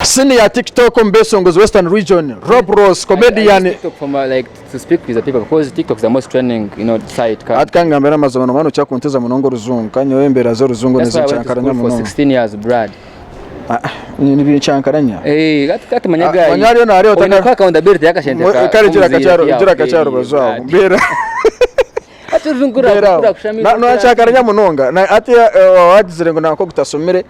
Sini ya TikTok omu beesongozi Western Region, Rob Ross, comedian, Hati ka ngambire amazima noba nookira kuntiza munonga orujungu kandi nyowe embeera z'orujungu nizincankaranya munonga. Nibiincankaranya? Manya ariyo naareeba otakara. Kare gira akati aha rubaju aho. Mbeera aho. Noorancankaranya munonga. Hatiya waaba waagizire ngu nanka ogutasomire.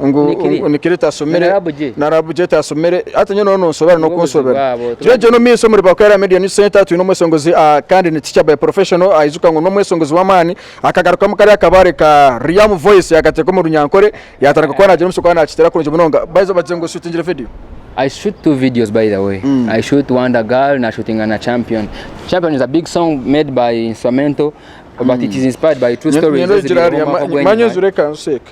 ngu Nikiri? ngu nikiri tasomere Narabu gye? narabu gye tasomere hati nyowe noona onsobera Nibwo obuzibu n'okunsobera bwabo, tuba- tugira gye n'omumaisho omuri Bakwera Media News Centre twine omweshongozi ah, kandi ni teacher by professional aijuka ngu n'omweshongozi w'amaani akagarukamu kari akabaare ka Riam Voice yakateeka omu runyankore yaatandika kuba naagira omushwi kuba naakiteera kurungi munonga By the way, bagira ngu oshutingire video I shoot two videos by the way. I shoot Wonder Girl na shootinga na Champion. Champion is a big song made by instrumental but it is inspired by true stories Nyowe eziriireho ogira omwaka ogw'enyima. manya ozireka nseeke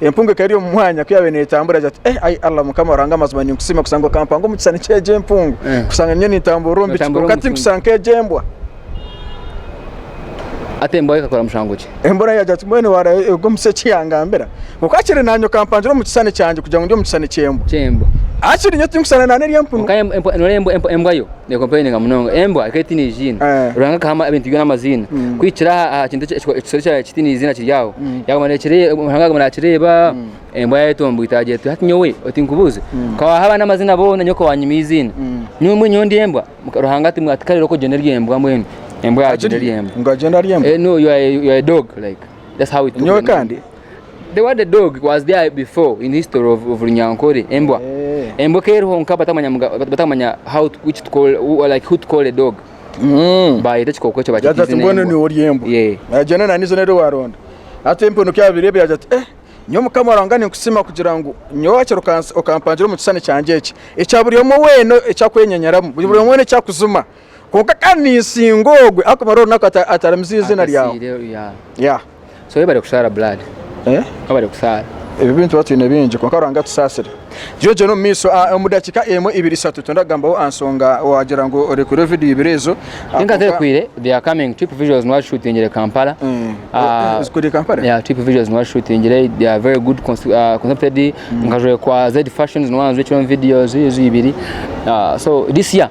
Empungu ekaba eri omu mwanya ku yaabaire neetambura yaagira ati, Eh, ai Allah Mukama Ruhanga amazima ninkusiima kushanga okampanga omu kishushani ky'egi empungu, kushanga nyowe nintamburira omu bicu, kwonka tinkushusha nk'egi embwa. Hati embwa yo ekakora mushangwe ki? Embwa nayo yaagira ati, Mbwenu waaraye oruga omu ki eki yangambira? Kwonka hakiri naanye okampangire omu kishushani kyangye kugira ngu ndi omu kishushani ky'embwa. Ky'embwa. Hakiri nyowe tinkushushana naane eri empunu. Kwonka noreeba embwa yo? They complaining munonga. Embwa ekaba etaine eiziina. Eh. Ruhanga akaha ama- ebintu byona amaziina. Mm. Kuhikira aha aha kintu eki- eki- ekisoro ekya- ekitaine eiziina kiri aho. Yaguma nakireeba, Ruhanga yaguma nakireeba, embwa yaayetooba mbu itaagye eti, hati nyowe oti nkubuuze, ka waaha abaana amaziina boona nyowe ka waanyima eiziina? Nyowe mbwenu nyowe ndi embwa? Muka- Ruhanga ati ati kare ori oku ogyenda ori embwa mbwenu. Embwa yaagyenda eri embwa. Ngu agyenda ari embwa? Eh, no, you are a- you are a dog like. that's how it took nyowe kandi the word the dog was there before in history of, of runyankore embwa eh. embwa keriho nka batamanya batamanya how to, which to call like who to call a dog mm. bayeta ekikooko ekyo bakita izina mbwenu niwe ori embwa agenda na nizina eri waronda ate empunu kyabirebe yagira ati eh nyo mukama rwanga ninkusima kugira ngu nyowe akiri okampangira omu kisani kyangye eki ekya buri omwe wena ekyakwenyenyeramu buri omwe wena ekyakuzuma Kwonka kandi ninsinga ogwe arikumara orunaku ataramize eiziina ryawe. Ebyo bintu tuba twine bingi kwonka Ruhanga atusaasire. Gyogyera omu maisho omu dakiika emwe, ibiri, ishatu twenda kugambaho aha nshonga waagira ngu oreekureho vidiyo ibiri ezo.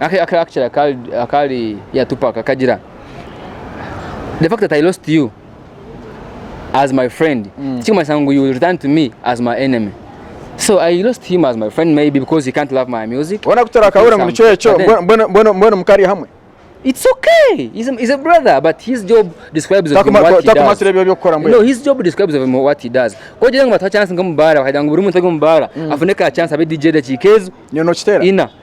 Aka aka akakira kari akari ya Tupac akagira the fact that I lost you as my friend mm. tikikumanyisa ngu you return to me as my enemy so I lost him as my friend maybe because he can't love my music ona kutora akabura ngu nikyo ekyo mbona mbona mbona mukari hamwe It's okay. He's a, he's a brother, but his job describes of him what he does. No, his job describes of him what he does. Ko jere ngo batwa chance ngo mubara, bakajya ngo buri muntu ngo mubara, mm. afune ka chance abe DJ da chikezo. Nyono kitera. Ina.